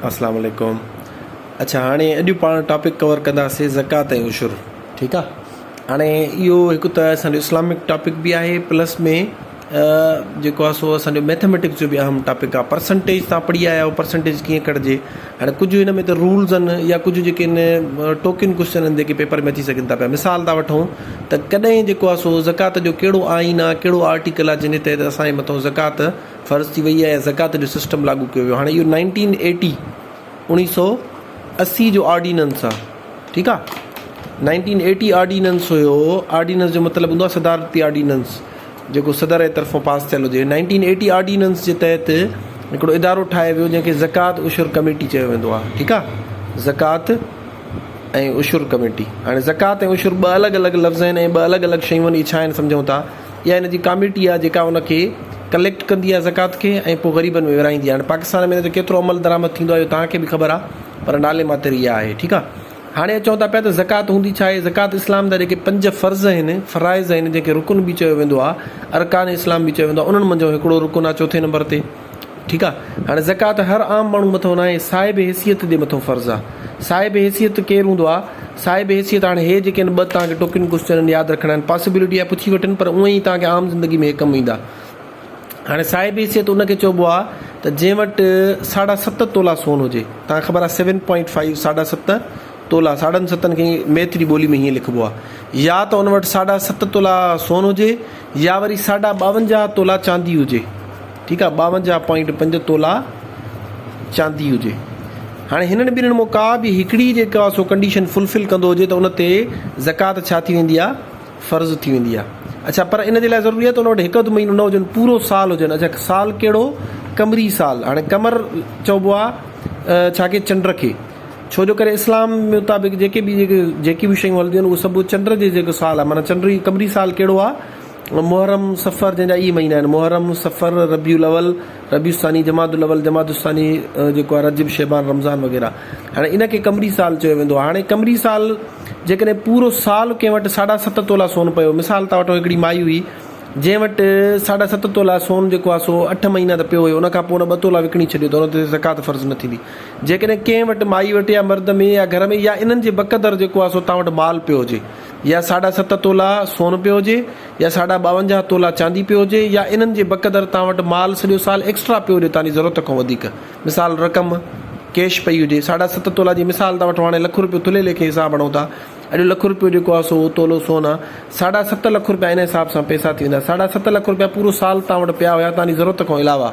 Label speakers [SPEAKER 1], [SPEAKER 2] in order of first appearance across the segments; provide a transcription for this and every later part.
[SPEAKER 1] اسلام عليڪم اچھا هاڻي اڄ پاڻ ٽاپڪ ڪور ڪنداسي زڪات ۽ عشر ٺيڪ آ هاڻي اهو هڪ ته اسان جو اسلامڪ ٽاپڪ به آهي پلس ۾ جيڪو آ سو اسان جو ميٿميٽڪس جو به اهم ٽاپڪ آ پرسنٽيج تان پڙهي آيا آهيو پرسنٽيج ڪيئن ڪڍجي هاڻي ڪجهه هن ۾ ته رولز ان يا ڪجهه جيڪي ان ٽوڪين ڪويسچن ان جيڪي پيپر ۾ اچي سگهن ٿا پيا مثال ٿا وٺون ته ڪڏهن جيڪو آ سو زڪات جو ڪهڙو آئين آ ڪهڙو آرٽيڪل آ جنهن جي تحت اسان جي مٿو زڪات فرض ٿي وئي ۽ زڪوات جو سسٽم لاڳو ڪيو ويو هاڻي اهو نائنٽين ايٽي اوڻيهه سو اسي جو آرڊيننس آ ٺيڪ آ نائنٽين ايٽي آرڊيننس هيو آرڊيننس جو مطلب هوندو آ صدارتي آرڊيننس جيڪو صدر جي طرفون پاس ٿيل هجي نائنٽين ايٽي آرڊيننس جي تحت هڪڙو ادارو ٺاهيو ويو جنهن کي زڪوات عشر ڪميٽي چيو ويندو آ ٺيڪ آ زڪوات ۽ عشر ڪميٽي هاڻي زڪوات ۽ عشر ٻه الڳ الڳ لفظ آهن ۽ ٻه الڳ الڳ شيون آهن اهي ڇا آهن سمجهون ٿا يا ان جي ڪاميٽي آهي جيڪا ان کي ڪليڪٽ ڪندي آهي زڪوات کي ۽ پوء غريبن ۾ ورهائيندي آهي هاڻي پاڪستان ۾ ان جو ڪيترو عمل درآمد ٿيندو آهي اهو تهان کي به خبر آهي پر نالي ماتر اها آهي ٺيڪ آهي هاڻي اچون ٿا پيا ته زڪوات هوندي ڇا آهي زڪوات اسلام جا جيڪي پنج فرض آهن فرائض آهن جنهن کي رڪن به چيو ويندو آهي ارڪان اسلام به چيو ويندو آهي انهن منجهو هڪڙو رڪن آهي چوٿين نمبر تي ٺيڪ آ هاڻي زڪوات هر عام ماڻهو مٿو ناهي صاحب حيثيت جي مٿو فرض آ صاحب حيثيت ڪير هوندو آ صاحب حيثيت هاڻي هي جيڪي ان ٻه توهان کي ٽوڪين ڪوسچنن ياد رکڻا آهن پاسيبلٽي آهي پڇي وٺن پر اونئي توهان کي عام زندگي ۾ هي ڪم ايندا هاڻي صاحب حيثيت ان کي چئبو آ ته جنهن وٽ ساڍا ست تولا سون هجي توهان کي خبر آ سيون پوائنٽ فائيو ساڍا ست تولا، ساڍن ستن کي ميٿري ٻولي ۾ هيئن لکبو آهي، يا ته ان وٽ ساڍا ست تولا سون هجي يا وري ساڍا ٻاونجاهه تولا چاندي هجي، ٺيڪ آهي، ٻاونجاهه پوائنٽ پنج تولا چاندي هجي. هاڻي هنن ٻنهين مان ڪا به هڪڙي جيڪو آهي سو ڪنڊيشن فلفل ڪندو هجي ته ان تي زڪوات ڇا ٿي ويندي آهي؟ فرض ٿي ويندي آهي. اڇا پر ان جي لاء ضروري آهي ته ان وٽ هڪ اڌ مهينو نه هجن، پورو سال هجن. اڇا سال ڪهڙو؟ قمري سال. هاڻي قمر چئبو آهي ڇا کي؟ چنڊ کي. ڇو جو ڪري اسلام مطابق جيڪي به جيڪي به شيون هلنديون آهن اهو سڀ چنڊ جي جيڪو سال آهي معنيٰ چنڊ قمري سال ڪهڙو آهي محرم صفر جنهن جا اهي مهينا آهن محرم صفر ربيع الاول ربيع الثاني جمادي الاول جمادي الثاني جيڪو آهي رجب شعبان رمضان وغيره هاڻي ان کي قمري سال چيو ويندو آهي هاڻي قمري سال جيڪڏهن پورو سال ڪنهن وٽ ساڍا ست تولا سون پيو مثال ٿا وٺون هڪڙي مائي هئي جنهن وٽ ساڍا ست تولا سون جيڪو آهي سو اٺ مهينا ته پيو هيو ان کان پوء ان ٻه تولا وڪڻي ڇڏيو ته ان تي زڪوات فرض نه ٿيندي جيڪڏهن ڪنهن وٽ مائي وٽ يا مرد ۾ يا گهر ۾ يا انهن جي بقدر جيڪو آهي سو توهان وٽ مال پيو هجي يا ساڍا ست تولا سون پيو هجي يا ساڍا ٻاونجاهه تولا چاندي پيو هجي يا انهن جي بقدر توهان وٽ مال سڄو سال ايڪسٽرا پيو هجي توهان جي ضرورت کان وڌيڪ مثال رقم ڪيش پئي هجي ساڍا ست تولا جي مثال ٿا وٺون هاڻي لک روپيو ٿلهي ليکي حساب هڻون ٿا اڄ لک روپيو جيڪو آهي سو تولو سون آهي ساڍا ست لک روپيا ان حساب سان پئسا ٿي ويندا ساڍا ست لک روپيا پورو سال توهان وٽ پيا هيا توهان جي ضرورت کان علاوه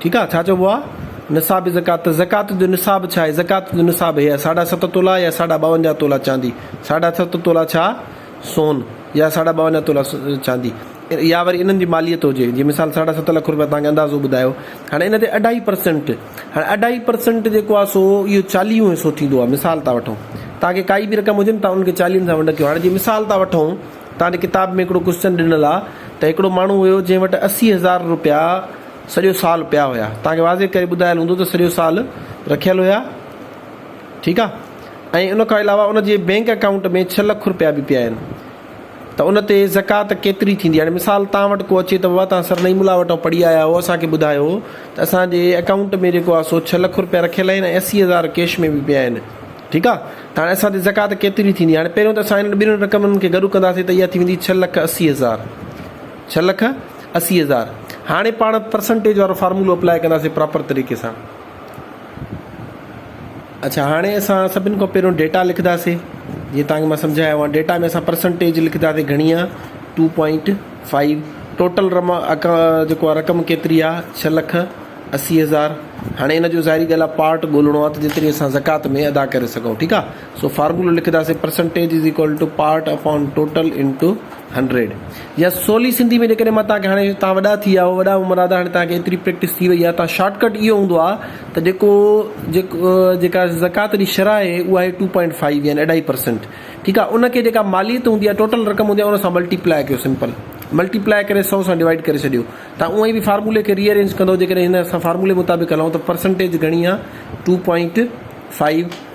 [SPEAKER 1] ٺيڪ آ ڇا چئبو آ نصاب زڪوات ته زڪوات جو نصاب ڇا آهي زڪوات جو نصاب هي آهي ساڍا ست تولا يا ساڍا ٻاونجاهه تولا چاندي ساڍا ست تولا ڇا سون يا ساڍا ٻاونجاهه تولا چاندي يا وري انهن جي ماليت هجي جي مثال ساڍا ست لک روپيا توهان کي اندازو ٻڌايو هاڻي ان تي اڍائي پرسنٽ هاڻي اڍائي پرسنٽ جيڪو آ سو اهو چاليهون حصو ٿيندو آ مثال ٿا وٺون توهان کي ڪائي به رقم هجي نه توهان ان کي چاليهن سان ونڊ ڪيو هاڻي جي مثال ٿا وٺون توهان جي ڪتاب ۾ هڪڙو ڪوسچن ڏنل آ ته هڪڙو ماڻهو هيو جنهن وٽ اسي هزار روپيا سڄو سال پيا هيا توهان کي واضح ڪري ٻڌايل هوندو ته سڄو سال رکيل هيا ٺيڪ آ ۽ ان کان علاوه ان جي بينڪ اڪائونٽ ۾ ڇهه لک رپيا به پيا آهن ته ان تي زڪات ڪيتري ٿيندي هاڻي مثال توهان وٽ ڪو اچي ته بابا توهان سرنئي ملا وٽان پڙهي آيا هئو اسان کي ٻڌايو ته اسان جي اڪائونٽ ۾ جيڪو آ سو ڇهه لک رپيا رکيل آهن ۽ اسي هزار ڪيش ۾ به پيا آهن ٺيڪ آ ته هاڻي اسان تي زڪات ڪيتري ٿيندي هاڻي پهريون ته اسان انهن ٻنهن رقمن کي گڏ ڪنداسين ته اها ٿي ويندي ڇهه لک اسي هزار ڇهه لک اسي هزار هاڻي پاڻ پرسنٽيج وارو فارمولو اپلائي ڪنداسين پراپر طريقي سان اچھا هاڻي اسان سڀن کان پهريون ڊيٽا لکنداسين جي تانکي مان سمجھايا هئا ڊيٽا ۾ اسان پرسنٽيج لکنداسين گھڻي آ 2.5 ٽوٽل رم اڪا جيڪو آ رقم ڪيتري آ 6 لک اسي هزار هاڻي ان جو ظاهري ڳالهه آ پارٽ ڳولهڻو آ ته جيتري اسان زڪوات ۾ ادا ڪري سگھون ٺيڪ آ سو فارمولو لکنداسين percentage is equal to part upon total into hundred يا سولي سنڌي ۾ جيڪڏهن مان تهانکي هاڻي تهان وڏا ٿي ويا وڏا عمر آدا هاڻي تهانکي ايتري پريڪٽس ٿي وئي آهي شارٽ ڪٽ اهو هوندو آهي ته جيڪو جيڪو جيڪا زڪات جي شرح آهي اها آهي ٽو پوائنٽ فائيو يعني اڍائي پرسنٽ ٺيڪ آهي ان کي جيڪا ماليت هوندي آهي ٽوٽل رقم هوندي آهي ان سان ملٽي پلاء ڪيو سمپل ملٽي پلاء ڪري سو سان ڊوائيڊ ڪري ڇڏيو تان اونئي به فارمولي کي ري ارينج ڪندو جيڪڏهن هن اسان فارمولي مطابق هلون ته پرسنٽيج گهڻي آهي ٽو پوائنٽ فائيو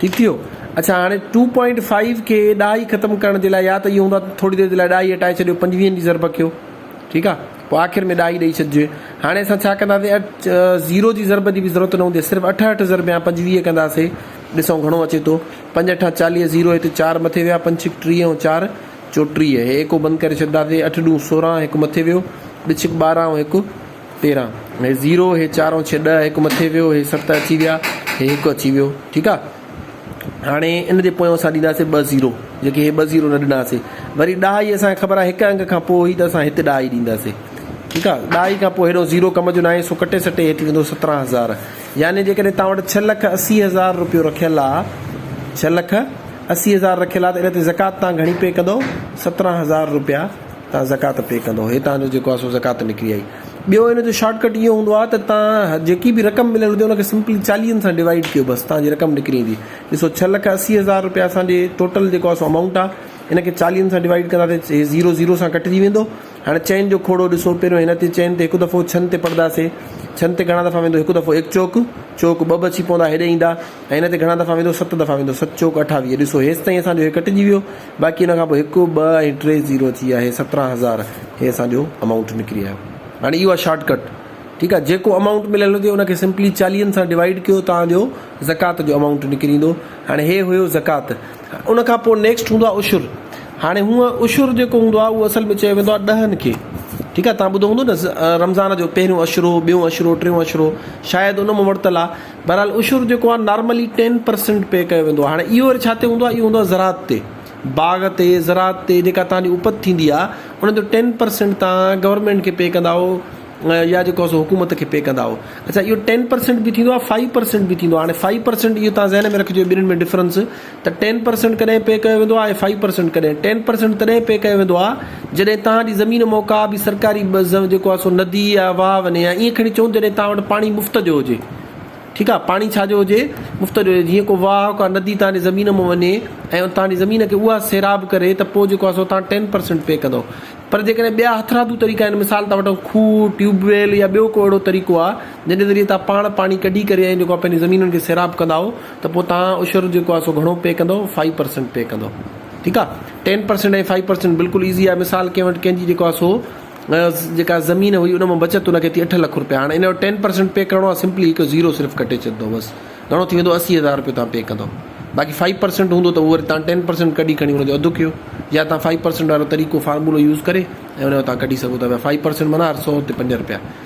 [SPEAKER 1] ٺيڪ ٿي ويو اڇا هاڻي ٽو پوائنٽ فائيو کي ڏهائي ختم ڪرڻ جي لاء يا ته اهو هوندو آهي ٿوري دير جي لاء ڏهائي هٽائي ڇڏيو پنجويهن جي ضرب ڪيو ٺيڪ آهي پوء آخر ۾ ڏهائي ڏئي ڇڏجي هاڻي اسان ڇا ڪنداسين اٺ زيرو جي ضرب جي به ضرورت نه هوندي صرف اٺ اٺ ضرب يا پنجويهه ڪنداسي ڏسون گهڻو اچي ٿو پنج اٺا چاليهه زيرو هتي چار مٿي ويا پنج ڇڪ ٽيهه ۽ چار چوٽيهه هي ايڪو بند ڪري ڇڏنداسي اٺ ڏون سورهن هڪ مٿي ويو ٻه ڇڪ ٻارهن ۽ هڪ تيرهن هي زيرو هي چارون ڇهه ڏهه هڪ مٿي ويو هي ست اچي ويا هي هڪ اچي ويو ٺيڪ آ هاڻي ان جي پويان اسان ڏينداسي ٻه زيرو جيڪي هي ٻه زيرو نه ڏناسي وري ڏهائي اسانکي خبر آ هڪ انگ کان پوء هي ته اسان هت ڏهائي ڏينداسي ٺيڪ آ ڏهائي کان پوء هيڏو زيرو ڪم جو ناهي سو ڪٽي سٽي هي ٿي ويندو سترهن هزار يعني جيڪڏهن توهان وٽ ڇهه لک اسي هزار روپيو رکيل آ ڇهه لک اسي هزار رکيل آ ته ان تي زڪات توهان گهڻي پي ڪندو سترهن هزار روپيا تان زڪوات پي ڪندو هي تان جو جيڪو آهي سو زڪوات نڪري آئي ٻيو هن جو شارٽ ڪٽ اهو هوندو آهي ته تان جيڪي به رقم مليل هجي ان کي سمپلي چاليهن سان ڊوائيڊ ڪيو بس تان جي رقم نڪري ايندي ڏسو ڇهه لک اسي هزار رپيا اسان جي ٽوٽل جيڪو آهي سو امائونٽ آهي ان کي چاليهن سان ڊوائيڊ ڪنداسي هي زيرو زيرو سان ڪٽجي ويندو هاڻي چئن جو کوڙو ڏسو پهريون هن تي چئن تي هڪ دفعو ڇهن تي پڙداسي ڇهن تي گهڻا دفعا ويندو هڪ دفعو ايڪ چوڪ چوڪ ٻه به اچي پوندا هيڏي ايندا ۽ هن تي گهڻا دفعا ويندو ست دفعا ويندو ست چوڪ اٺاويهه ڏسو هيستائين اسان جو هي ڪٽجي ويو باقي ان کان پوء هڪ، ٻه ۽ ٽي زيرو ٿي ويا هي سترهن هزار هي اسان جو امائونٽ نڪري آيو هاڻي اهو آهي شارٽ ڪٽ ٺيڪ آهي جيڪو امائونٽ مليل هجي ان کي سمپلي چاليهن سان ڊوائيڊ ڪيو توهان جو زڪوات جو امائونٽ نڪري ايندو هاڻي هي هيو زڪوات ان کان پوء نيڪسٽ هوندو آهي عشر هاڻي هونء عشر جيڪو هوندو آهي اهو اصل ۾ چيو ويندو آهي ڏهن کي ٺيڪ آهي توهان ٻڌو هوندو نه رمضان جو پهريون عشرو ٻيون عشرو ٽيون عشرو شايد ان مون ورتل آهي بهرحال عشر جيڪو آهي نارملي ٽين پرسنٽ پي ڪيو ويندو آهي. هاڻي اهو وري ڇا تي هوندو آهي؟ اهو هوندو آهي زراعت تي. باغ تي، زراعت تي جيڪا توهان جي اپت ٿيندي آهي ان جو ٽين پرسنٽ توهان گورنمينٽ کي پي ڪندا آهو يا جيڪو آهي سو حڪومت کي پي ڪندا آهو. اڇا اهو ٽين پرسنٽ به ٿيندو آهي، فائيو پرسنٽ به ٿيندو آهي. هاڻي فائيو پرسنٽ اهو توهان ذهن ۾ رکجو ٻنهين ۾ ڊفرنس. ته ٽين پرسنٽ ڪڏهن پي ڪيو ويندو آهي ۽ فائيو پرسنٽ ڪڏهن ٽين پرسنٽ تڏهن پي ڪيو ويندو آهي جڏهن توهان جي زمين مون ڪا به سرڪاري بزنس جيڪو آهي سو ندي يا واهه وڃي يا ائين کڻي چئون جڏهن توهان وٽ پاڻي مفت جو هجي ٺيڪ آهي پاڻي ڇا جو هجي مفت جو هجي جيئن ڪو واهه ڪا ندي توهان جي زمين مون وڃي ۽ توهان جي زمين کي اها سيراب ڪري ته پوء جيڪو آهي سو توهان ٽين پرسنٽ پي ڪندو پر جيڪڏهن ٻيا هٿرادو طريقا آهن مثال ٿا وٺون کوهه ٽيوب ويل يا ٻيو ڪو اهڙو طريقو آهي جنهن جي ذريعي توهان پاڻ پاڻي ڪڍي ڪري ۽ جيڪو آهي پنهنجي زمينن کي سيراب ڪندائو ته پوء توهان عشر جيڪو آهي سو گهڻو پي ڪندؤ فائيو پرسنٽ پي ڪندؤ ٺيڪ آهي ٽين پرسنٽ ۽ فائيو پرسنٽ بلڪل ايزي آهي مثال ڪنهن وٽ ڪنهن جي جيڪو آهي سو جيڪا زمين هئي ان مان بچت ان کي ٿي اٺ لک روپيا هاڻي ان جو ٽين پرسنٽ پي ڪرڻو آهي سمپلي هڪ زيرو صرف ڪٽي ڇڏندو بس گهڻو ٿي ويندو اسي هزار روپيو توهان پي ڪندو باقي فائيو پرسنٽ هوندو ته وري توهان ٽين پرسنٽ ڪڍي کڻي ان جو اڌ ڪيو يا توهان فائيو پرسنٽ وارو طريقو فارمولو يوز ڪري ۽ ان جو توهان ڪڍي سگهو ٿا پيا فائيو پرسنٽ معنيٰ هر سو تي پنج روپيا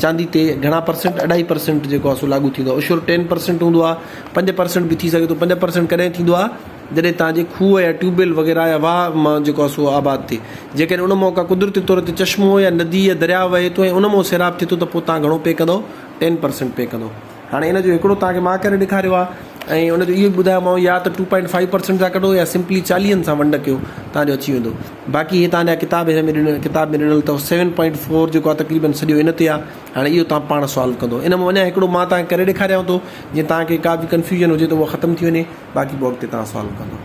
[SPEAKER 1] چاندي تي گهڻا پرسنٽ اڍائي پرسنٽ جيڪو آهي سو لاڳو ٿيندو آهي عشر ٽين پرسنٽ هوندو آهي پنج پرسنٽ به ٿي سگهي ٿو پنج پرسنٽ ڪڏهن ٿيندو آهي جڏهن توهان جي کوهه يا ٽيوب ويل وغيره يا واهه مان جيڪو آهي سو آباد ٿئي جيڪڏهن ان مان ڪا قدرتي طور تي چشمو يا ندي يا درياء وهي ٿو ۽ ان مان سيراب ٿئي ٿو ته پوء توهان گهڻو پي ڪندو ٽين پرسنٽ پي ڪندو هاڻي ان جو هڪڙو توهان کي مان ڪري ڏيکاريو آهي ۽ ان جو اهو به ٻڌايومانو يا ته ٽو پوائنٽ فائيو پرسنٽ سان ڪڍو يا سمپلي چاليهن سان ونڊ ڪيو تان جو اچي ويندو باقي هي تان جا ڪتاب هن ۾ ڏنل ڪتاب ۾ ڏنل اٿو سيون پوائنٽ فور جيڪو آهي تقريبن سڄو ان تي آهي هاڻي اهو توهان پاڻ سالو ڪندو ان مان اڃا هڪڙو مان توهان کي ڪري ڏيکاريان ٿو جي توهان کي ڪا به ڪنفيوجن هجي ته هو ختم ٿي وڃي باقي بورڊ تي توهان سالو ڪندو